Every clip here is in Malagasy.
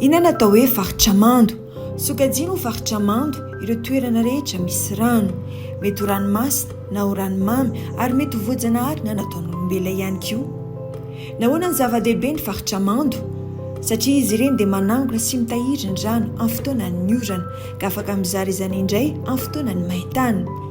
Inona no atao hoe faritra mando? Sokajiana ho faritra mando ireo toerana rehetra misy rano. Mety ho ranomasina na ho ranomamy ary mety ho voajanahary na nataon'olombelona ihany koa. Nahoana no zava-dehibe ny faritra mando? Satria izy ireny dia manangona sy mitahiry ny rano amin'ny fotoanan'ny orana, ka afaka mizara izany indray amin'ny fotoanan'ny main-tany.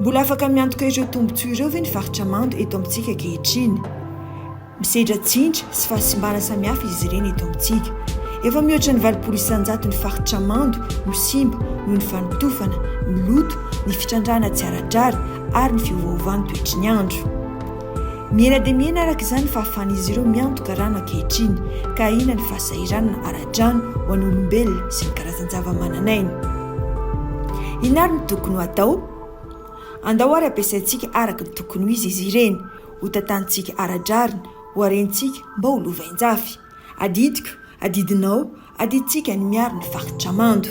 Mbola afaka miantoka ireo tombontsoa ireo ve ny faritra mando eto amintsika ankehitriny? Misedra tsindry sy fahasimbana samihafa izy ireny eto amintsika. Efa mihoatra ny valopolo isanjato ny faritra mando no simba noho ny fanotofana, ny loto, ny fitrandrahana tsy ara-drariny ary ny fiovaovan'ny toetry ny andro. Mihena dia mihena araka izany ny fahafahan'izy ireo miantoka rano ankehitriny, ka ahiana ny fahasahiranana ara-drano ho an'olombelona sy ny karazan-javamananaina. Inona ary no tokony ho atao? Andao àry ampiasaintsika araka ny tokony ho izy izy ireny, hotantanintsika ara-drariny, hoharentsika mba ho lovain-jafy. Adidiko, adidinao, adidintsika ny miaro ny faritra mando.